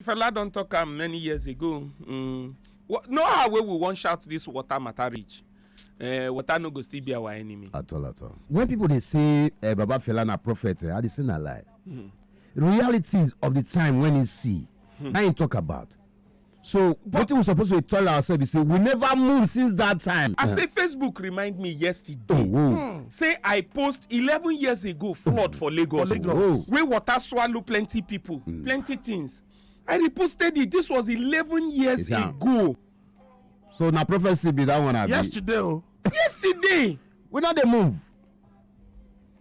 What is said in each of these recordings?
fela don talk am many years ago mm, no how wey we wan shout this water matter reach uh, water no go still be our enemy. at all at all when people dey say uh, baba fela na prophet uh, i dey say na lie mm. realities of the time when he see mm. na him talk about so wetin we suppose to tell ourselves be say we never move since that time. i say facebook remind me yesterday. Oh, oh. Hmm. say i post eleven years ago flood for lagos For Lagos. Whoa. wey water swallow plenty people plenty things i reposted it this was eleven years Yeah. ago so na prophecy be that one abi. yesterday o yesterday we no dey move.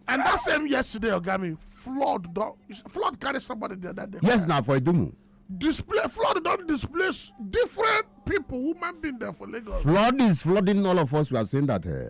and that same yesterday oga mi flood don flood carry somebody the other day. yes na for idumu. display flood don displace different people woman being there for lagos. flood is flooding all of us we are saying that. Uh,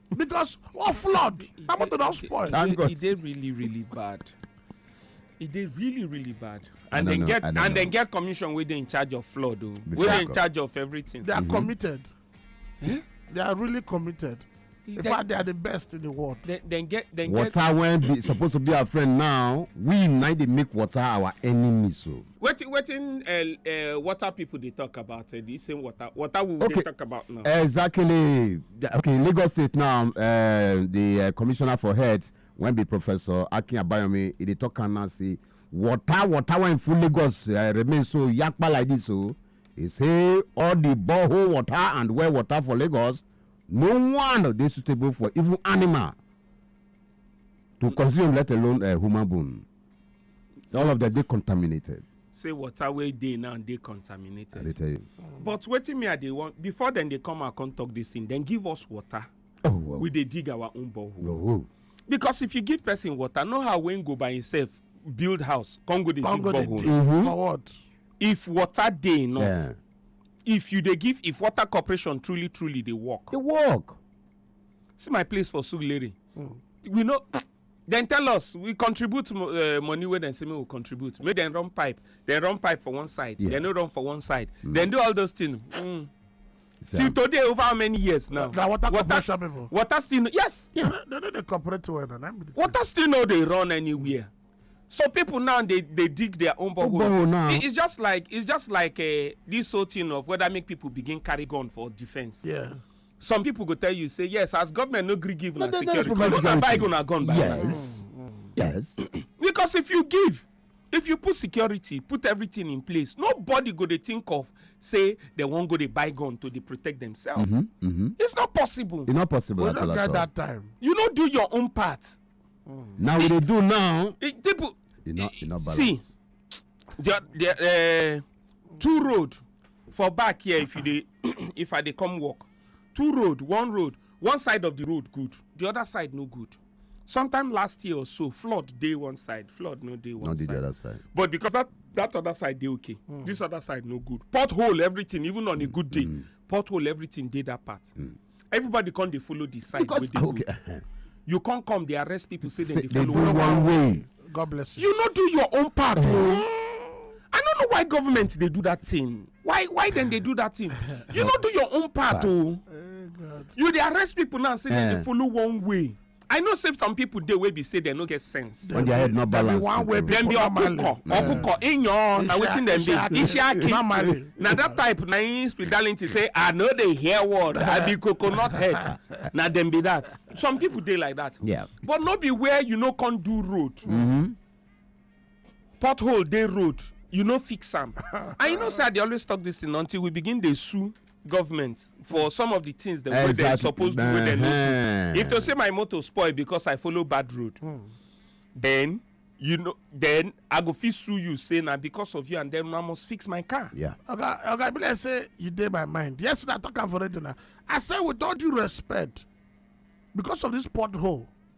because of flood na motor don spoil. thank god e dey really really bad e dey really really bad and dem get and dem get commission wey dey in charge of flood o oh. wey dey in charge of everything. they are mm-hmm. committed eh? they are really committed in fact they are the best in the world. dem get dem get. water wey be suppose to be our friend now we na dey make water our enemy so. Oh. wetin wetin uh, uh, water people dey talk about uh, the same water water we okay. dey talk about now. exactly okay lagos state now uh, the uh, commissioner for health wen be professor akin abayomi e dey talk am now say water water wey full lagos uh, remain so yakpa like this o oh. e say all the borehole water and well water for lagos no one dey suitable for even animal to consume let alone uh, human bone. all of them dey contaminated say water wey dey now dey contaminated i dey tell you but wetin me i dey want before dem dey come out come talk this thing dem give us water oh wow we dey dig our own borehole oh, oh. because if you give person water know how wey go by himself build house come go dey dig borehole mm-hmm. for what if water dey no yeah. if you dey give if water corporation truly truly dey work dey work see my place for suguleri mm. we know dem tell us we contribute uh, money wey dem say make we contribute make dem run pipe dem run pipe for one side yeah. dem no run for one side mm. dem do all those things mm. so, till today over how many years now na water corporation people water still no yes yeah they no dey cooperate well na water still no dey run anywhere so people now they they dig their own borehole borehole now it's just like it's just like uh, this whole thing of whether make people begin carry gun for defence yeah Some people go tell you say yes, as government no gree give una security, because no na buy una gun by Yes, yes. because if you give, if you put security, put everything in place, nobody go dey think of say they wan go dey buy gun to dey protect themselves. Mm -hmm, mm -hmm. It's not possible. It's not possible we at all. We get that time. You no do your own part. Mm. Now we dey do now. It, people, e no e no balance see the, the, uh, two road for back here if you dey if i dey come work two road one road one side of the road good the other side no good sometime last year or so flood dey one side flood no dey one no side no dey the other side but because that that other side dey okay mm. this other side no good pothole everything even on a good day mm. pothole everything dey that part mm. everybody come dey follow the side wey dey good uh-huh. you come come dey arrest people say dem dey follow one way god bless you you no do your own part o oh. i no know why government dey do that thing why why dem dey do that thing you no do your own part o oh. eh, you dey arrest people now say dem dey eh. follow one way I know say some people dey wey be say dem no get sense. When their head not Dem be balance. one way Dem be people normally. ọkụkọ, ọkụkọ, ịnyọ, na wetin dem be? Isiaki. Isiaki. Normally. Na that type na im spirituality say I no dey hear word, I be coconut head. Na dem be that. Some people dey like that. Yeah. But no be where you no come do road. Pothole dey road, you no fix am. And you know say I dey always talk this thing until we begin dey sue government for some of the things dem wey dem suppose do wey dem no do if to say my motor spoil because i follow bad road hmm. then you know then i go fit sue you say na because of you and then i must fix my car yeah oga oga be like say you dey my mind yesterday i talk am for radio na i say with all due respect because of this pothole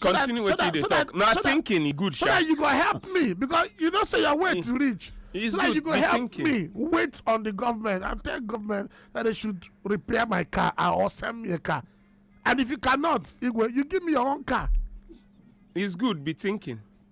continue wetin you dey talk na thinking e good sha so that you go help me because you know say your weight mm. reach It's so that you go help thinking. me wait on the government and tell government that they should repair my car or send me a car and if you cannot igwe you give me your own car. it's good be thinking.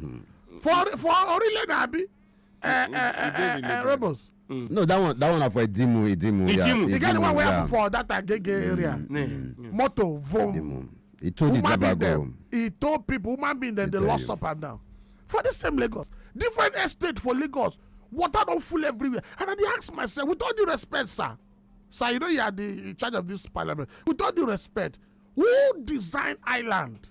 Hmm. for for orile na abi eh, hmm. eh, eh, rebels. Hmm. no that one that one na for idimu idimu idimu e get the one wey happen for that agege area motor vom he told the driver go he told people human being dem dey lost up and down for the same lagos different estate for lagos water don full everywhere and i dey ask myself with all due respect sir sir you know you are the in charge of this parliament with all due respect who design island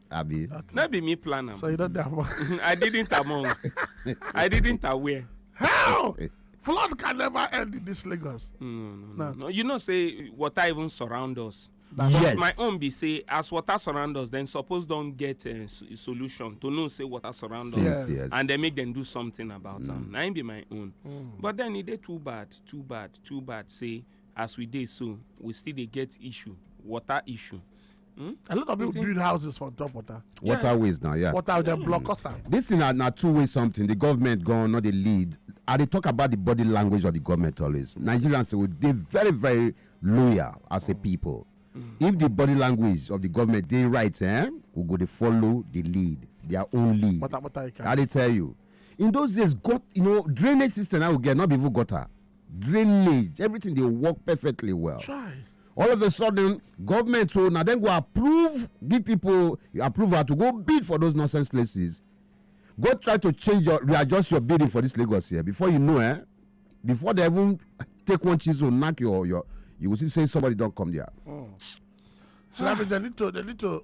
Abi. Okay. Not be me plan am. So you don't have one. I didn't among. I didn't aware. How? Flood can never end in this Lagos. No, no, no. no. no. You know, say water even surround us. That's yes. my own be say as water surround us then suppose don get a uh, solution to know say water surround us yes. and then make them do something about am mm. na im be my own mm. but then e dey too bad too bad too bad say as we dey so we still dey get issue water issue Hmm? a lot of people build houses for top water. waterways now yeah. water dem block us am. this thing na na two way something the government go on no dey lead i dey talk about the body language of the government always nigerians go dey very very loyal as a people hmm. if the body language of the government dey right eh we go dey follow the lead their own lead i dey tell you in those days got you know drainage system i go get not be even gutter drainage everything dey work perfectly well Chai. all of a sudden government so na dem go approve give people approval to go bid for those nonsense places go try to change your readjust your bidding for this lagos here before you know eh before they even take one chisel knack your your you go see say somebody don come there. So that means they need to they need to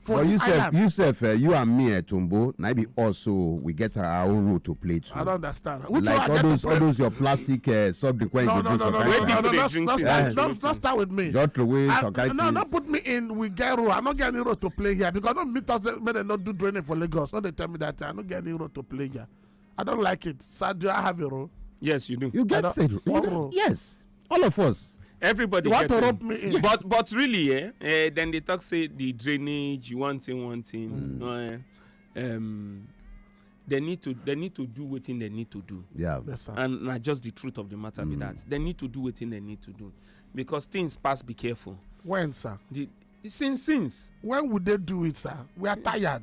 for but you sef you sef eh, you and me eh, tumbo na be us so we get our own role to play too. i don't understand. Which like all those all those your plastic uh, soft drink wey no, you go no, drink no, sometimes. no no no no no start eh. no no start with me. just throw away some kind things. no no put me in we get role i no get any role to play here because no meet us make dem no do training for lagos no dey tell me that thing i no get any role to play here i don't like it sadio i have a role. yes you do. you get a role yes. all of us everybody you want to rope me in but but really eh, eh then they talk say the drainage one thing one thing mm. uh, um, they need to they need to do wetin they need to do yeah yes, sir. and na just the truth of the matter mm. be that they need to do wetin they need to do because things pass be careful when sir the since since when would they do it sir we are tired